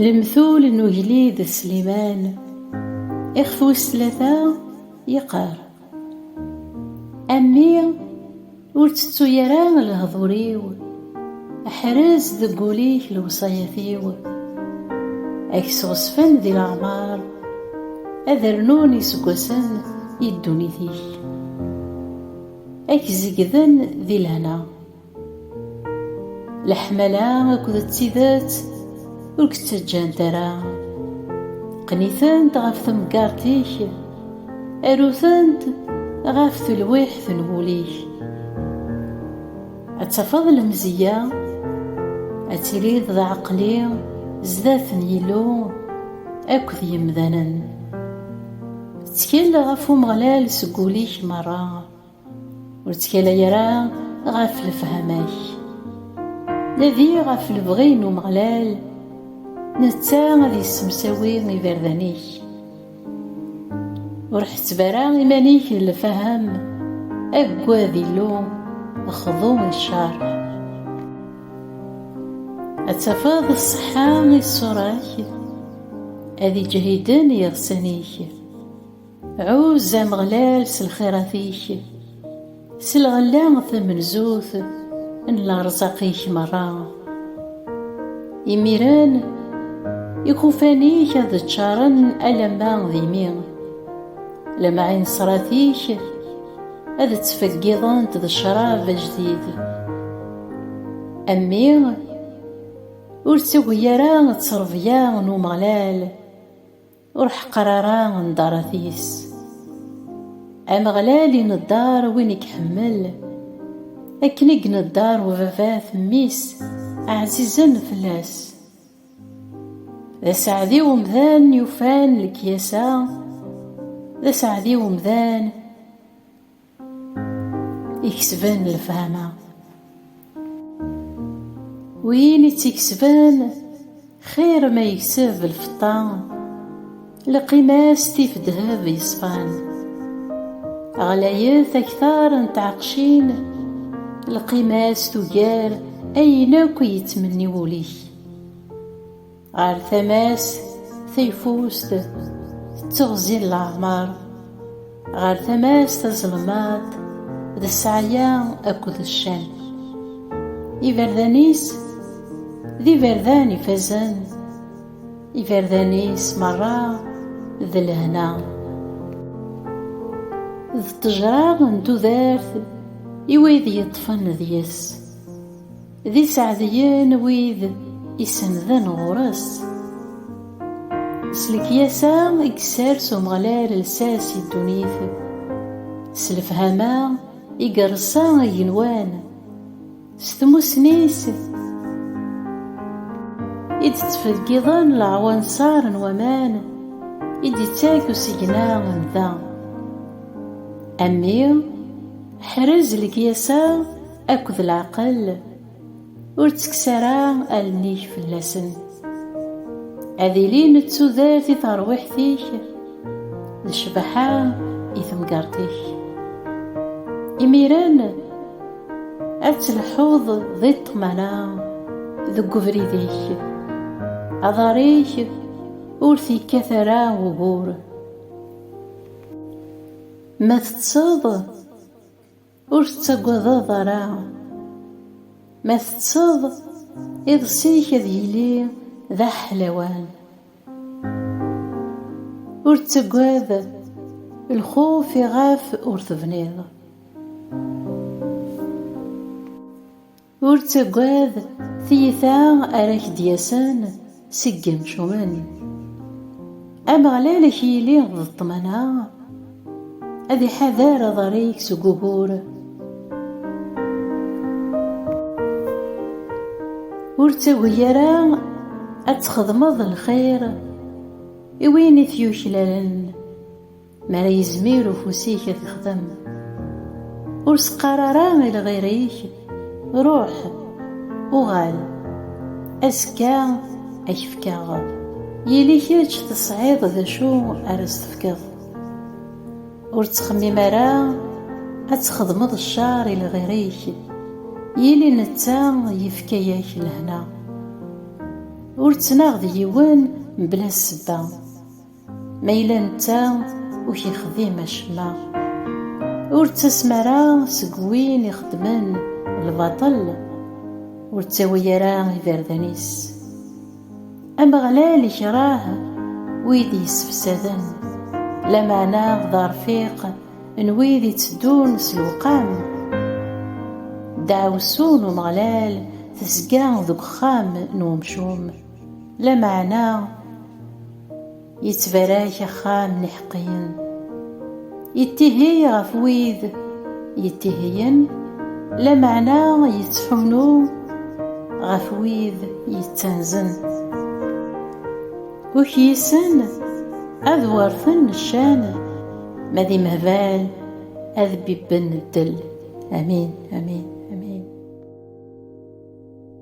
Lemtul n ugellid Sliman, ixef wis tlata, yeqqar, A mmi, ur ttettu ara lehdur-iw, ḥrez deg wul-ik lewṣayat-iw. Ad k-sɣezfen di leɛmer, ad rnun iseggasen i ddunit-ik. Ad k-zegden di lehna. Leḥmala akked d tidet ur k-ttaǧǧant ara. Qqen-itent ɣef temgerḍt-ik, aru-tent ɣef telwiḥt n wul-ik. Ad tafeḍ lemzeyya, ad tiliḍ d aɛeqli zdat n Yillu akked yemdanen. Ttkel ɣef Umeɣlal seg wul-ik merra, ur ttkalay ara ɣef lefhama-k. Nadi ɣef lebɣi n Umeɣlal, netta ad yessemsawi iberdan-ik. Ur ḥetteb ara iman-ik d lfahem, aggad Illu, xḍu i cceṛ. Ad tafeḍ ṣṣeḥḥa i ṣṣura-k. Ad iǧehiden yiɣsan-ik. Ɛuzz Ameɣlal s lxirat-ik, s lɣella tamenzut n lerzaq-ik merra. Imiren, ikufan-ik ad ččaren alamma d imi, lemɛinsrat-ik ad ttfeggiḍent d ccrab ajdid. A mmi, Ur ttagi ara ttrebya n Umeɣlal, ur ḥeqqer ara nḍarat-is. Ameɣlal ineḍḍar win i iḥemmel, akken i ineḍḍar ubabat mmi-s ɛzizen fell-as. D aseɛdi umdan yufan lekyasa, d aseɛdi umdan. ikesben lefhama win i tt-ikesben xir ma yekseb lfeṭṭa lqima-s tif ddheb yeṣfan ɣlayet aktar n tɛeqcin lqima-s tugar ayen akk yettmenni wul-ik Ɣer tama-s tayfust tetteɣzi n leɛmer, ɣer tama-s tazelmaḍt d ssɛaya akked ccan. Iberdan-is d iberdan ifazen, iberdan-is merra d lehna. D ṭṭejra n tudert i wid yeṭṭfen deg-s. D iseɛdiyen wid isennden ɣur-s. S lekyasa i isers Umeɣlal lsas i ddunit, s lefhama i ireṣṣa igenwan, s tmussni-s i d-ttfeggiḍen leɛwanṣer n waman i d-ittak usigna n da. A mmi, ḥrez lekyasa! Akked leɛqel, ur ttekkes ara allen-ik fell-asen. Ad ilin d tudert i terwiḥt-ik, d ccbaḥa i temgerṭ-ik. Imiren, ad tleḥḥuḍ di ṭṭmana deg ubrid-ik, aḍar-ik ur t-yekkat ara ugur. Ma teṭṭseḍ, Ur tettagadeḍ ara. Ma teţţeḍ, iḍes-ik ad yili d aḥlawan. Ur ttagad, lxuf iɣef ur tebniḍ. Ur ttagad tiyita ara ak-d-yasen seg yemcumen. Ameɣlal ak-yili d ṭṭmana, ad iḥader aḍar-ik seg ugur. Ur ttagi ara ad txedmeḍ lxir i win i t-yuklalen. Mi ara yezmir ufus-ik ad t-ixdem. Ur s-qqar ara i lɣir-ik, Ruḥ, uɣal, azekka ad k-fkeɣ. Yili kečč tesɛiḍ d acu ara s-tefkeḍ. Ur ttxemmim ara ad txedmeḍ ccer i lɣir-ik, yili netta yefka-ak lehna. Ur ttnaɣ d yiwen mebla ssebba. Ma yella netta ur k-yexdim acemma, ur ttasem ara seg win ixeddmen lbaṭel, ur ttawi ara iberdan-is. Ameɣlal ikreh wid yessefsaden, lameɛna d arfiq n wid itteddun s lewqam. Ddeɛwessu n Umeɣlal tezga deg uxxam n umcum, lameɛna. Yettbarak axxam n iḥeqqiyen. Yettihiy ɣef wid yettihiyen, lameɛna yettḥunnu ɣef wid yettanzen. Ukyisen ad werten ccan, ma d imehbal ad bibben ddel. Amin, amin, amin.